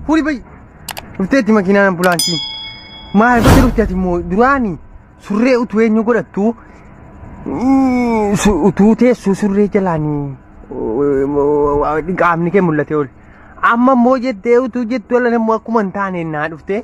Huri bai. Dhufteetti makiinaan ambulaansii. Maal gocha dhufte ati immoo duraani surree utuu eenyu godhattu mm, su- utuu teessuu surree jalaanii qaamni kee mul'ate ol. Amma immoo jettee utuu jettu ala immoo akkuma hin taane naa dhufte.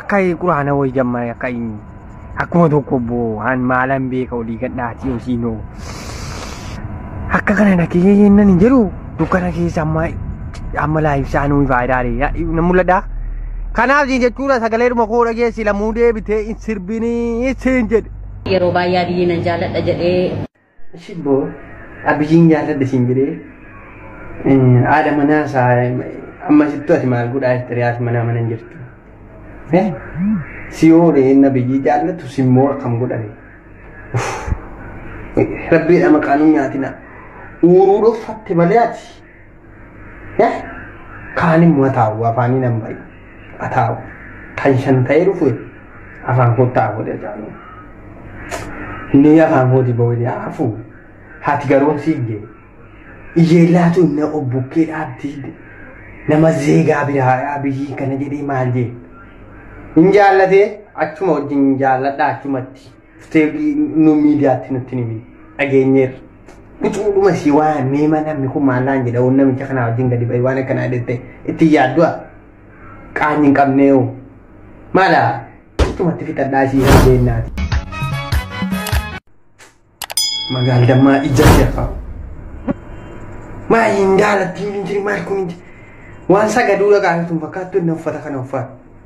Akka quraana wayii jammaa'e akka akkuma tokko boo an maalan beeka olii gadhaati osiinoo. Akka kana dhaqee yennan hin jedhu dukkana keessa amma amma laayibsaan nuyi faayidaalee na mul'ata. Kanaaf siin jechuudha sagalee dhuma koo dhageessi lammuu deebitee hin sirbinii siin jedhe. Yeroo baay'ee Abiyyiin nan jaalladha jedhee Shibboo abijiin jaalladhe siin jedhee haadha manaa isaa amma sittu ati maal godhaa jette riyaas manaa mana hin jirtu. Si oole inni abiyyii jaallatu simmoo akkam godhame. Rabbiidha maqaan hin nyaatina. Uuruu dhoffatte malee ati. Kaan immoo ataa'u afaanii nan bari. Ataa'u kan shan ta'ee dhufu afaan koo taa'u godhe jaalu. Inni afaan kooti boo'ee hafu haati garoon siigge. Ijeellaatu inni obbukkee dhaabdi. Nama zeegaa biraa biyyi kana jedhee maal jee. Hin jaallatee achuma wajjin jaalladha achumatti. Dhuftee nu miidiyaatti nutti hin himin. Dhageenyeerra. Qucuudhuma si waamee mana namni kun maallaan jedha waan namicha kanaa wajjin gadi ba'e waan akkanaa jettee itti yaaddu'a. Qaanyi hin qabneewu. Maala? Qucumatti fixadhaa si hin beennaati. Magaal dammaa ija jaffa. Maal hin daalatti hin jiri maal kun hin jiri. Waan sagaduu dhaqaa hin fakkaattu inni uffata kana uffata.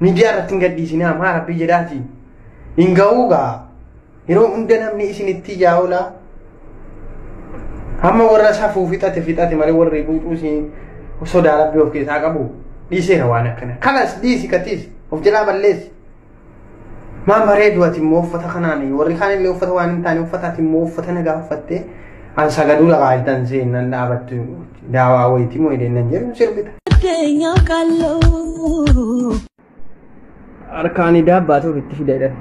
Miidiyaa irratti hin gadhiisinaa maa rabbii jedhaati. Hin ga'uu gaa. Yeroo hunda namni isin itti ijaa oolaa. Amma warra safuu fixate fixate malee warri buuxuu isin sodaa rabbii of keessaa qabu. Dhiiseera waan akkana. Kanas dhiisi katiis of jalaa balleessi. Maa bareedu ati immoo uffata kanaan warri kaan illee uffata waan hin taane uffata ati immoo uffata nagaa uffattee an sagaduu lafaa jirtan seennan dhaabattu Daawaa wayitii moo hidheen nan jedhu sirbita. Addeenyaa qalloo. Harkaan idaa baatuuf itti fida jedhan.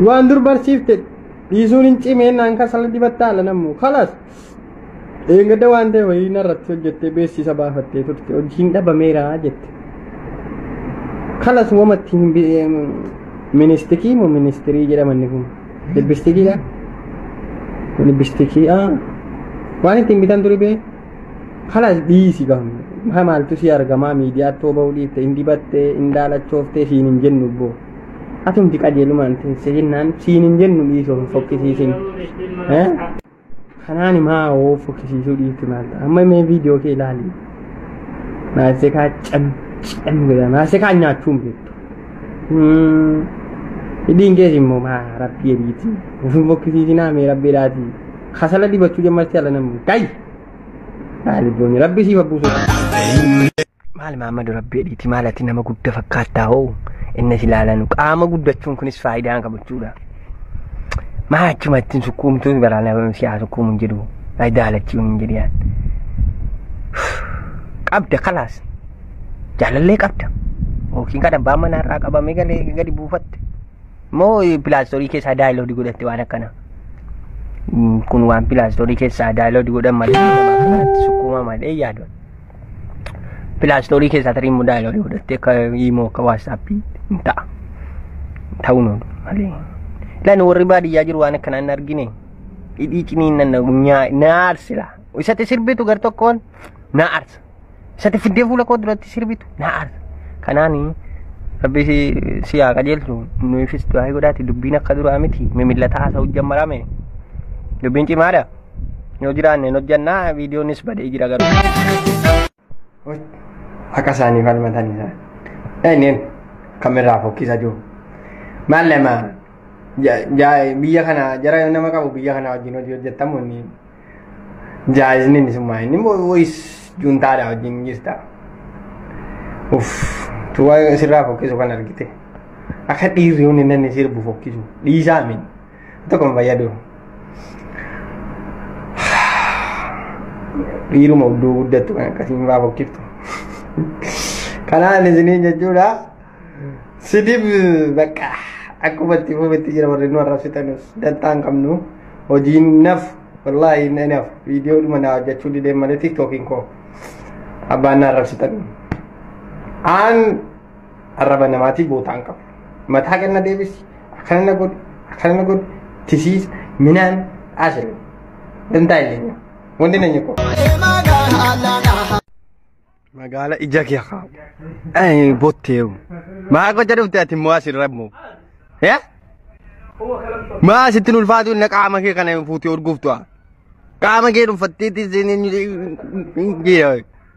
Waan dur barsiifte dhiisuun hin cimeen naan kasala dibatta ala nammu kalas. Eeggadda waan ta'e wayii narratti hojjettee beeksisa baafattee turte hojiin dhabameera jette. Kalas wamatti hin ministikii moo ministirii jedhamanni kun. Lippistikiidha. Lippistikii ah. Waan ittiin bitan ture bee. Kanas dhiisi gahu. Maa maaltu si argamaa miidiyaa too bahuu dhiifte hin dibattee hin daalachooftee siin hin jennu boo. Atumti qajeelumaan teessee jennaan siin hin jennu dhiisoo hin fokkisiisin. Eh? Kanaan himaa hoo fokkisiisuu dhiitti maal ta'a? Amma mee viidiyoo kee ilaali. Maasekaa cam cam jedha. Maasekaa nyaachuu hin beektu. Hmm. Hidhiin kees immoo maa rabbii ebiiti. Ofin fokkisiisinaa mee rabbii dhaati. Kasala dibachuu jammarti ala namni. Kai! Haa libboonni rabbii siif abbuusu. Maal maammadu rabbi jedhiiti maal ati nama gudda fakkaattaa hoo innis ilaalanu qaama guddachuun kunis faayidaa qabu jechuudha. Maa achuma ittiin sukkuumtuun baraa nama siyaa sukkuumu hin jedhu faayidaa halachuun hin jedhu. Qabda kalaas jaalallee qabda yookiin kan abbaan manaa irraa qabamee galee gadi buufatte moo pilaastorii keessaa daayiloodii godhatte waan akkana. Kun waan pilaastorii keessaa daayiloodii godhan malee nama akkanatti sukkuuma malee yaadon. pilaastoorii keessaa tarii immoo daayiloorii godhattee akka imoo akka waatsaappii hin ta'a. Ta'uu nu malee. Lan warri baadiyyaa jiru waan akkanaa hin argine. Hidhii ciniin nan na aarsila. Isatti sirbitu gar tokkoon na aarsa. Isatti fiddee fuula koo duratti sirbitu na aarsa. Kanaani rabbi si- si haa qajeelchu nuufis du'aa godhaati dubbiin akka duraa miti mimillataa haasa'u jammarame dubbiin cimaadha. Yoo jiraanne hin hojjannaa viidiyoonis badee jira garuu. Akka isaanii falmatan isaa. Eenyeen kamerraa fokkisa jiru. Maal lama biyya kana jara nama qabu biyya kana wajjin hojii hojjettamu inni jaayizni inni summaa inni woyis juntaadha wajjin jirta. Uff tuwa sirraa fokkisu kan argite. Akka dhiirri hundi inni sirbu fokkisu dhiisaa miti. tokko hin fayyadu dhiiruma udduu guddattu kan akkasiin faa fokkiftu kanaan isiniin jechuudha sidib bakka akkuma itti fuufetti jira warri nu arrabsitanus dantaa hin qabnu hojiin naf wallaahi inni naf viidiyoo dhuma naa hojjechuu dideen malee tiktookiin koo abbaan na arrabsitan aan Arraba namaatii bootaan qabu. Mataa ganna deebisi. Akkana na godhi. Akkana na godhi. Tisiisa. Minaan. Ashirin. Dantaa illee. Wanti na nyiko. Magaala ija kee haa. Ee botteeru. Maa gocha dhufte ati immoo asirra immoo. Ee? Maa asitti ulfaatu inni qaama kee kana fuutee urguuftu. Qaama kee dhuunfatteetti seenee.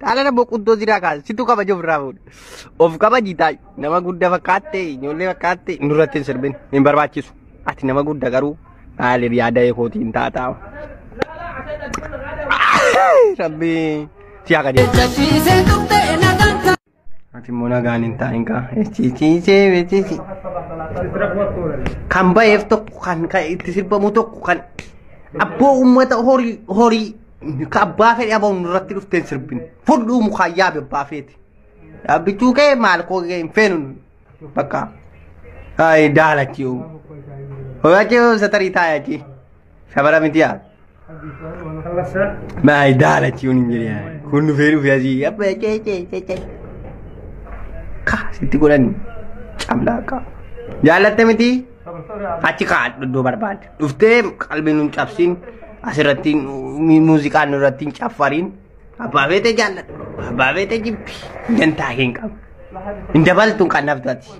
Dhaalana boqottoo siraa kaasa. Situ kabaja ofirraa fuudha. Of kabaji taa'e. Nama guddaa fakkaatte, ijoollee fakkaatte nurratti hin sirbin. Hin barbaachisu. Ati nama guddaa garuu maaliif yaada eekootiin taataa. Rabbi si haa qajeelchu. Jajjiisee tuqxee Ati immoo nagaan hin taa'in kaa. Ciiciisee beeksisi. Kan ba'eef tokko kan kan itti sirbamu tokko kan abboo uummata horii horii ka abbaa fedhe abbaa irratti dhufteen sirbin fudhuu mukaa yaabe abbaa feeti. Dhaabbichuu kee maal koo kee hin feenu bakka. Ayi daalachi yoo. Horachi yoo satarii taayachi. Shabara miti yaa. Maa daala ciun hin jiru yaa. Kun dhufee dhufee asii abba cee cee cee cee. Ka sitti godhan camlaa ka. Jaallatte miti. Achi kaa iddoo barbaadde. Dhuftee qalbii nun cabsiin asirratti muuziqaan nurratti hin caffariin. Abbaa beete jaalladhu. Abbaa beete jibbi. Dantaa hin qabu. Hin dabaltu hin qannaftu ati.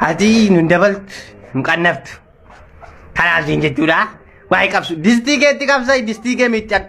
Ati hin dabaltu hin qannaftu. Kanaa siin jechuudha. Waa'ee qabsu. Distii keetti qabsai distii kee miiccadhu.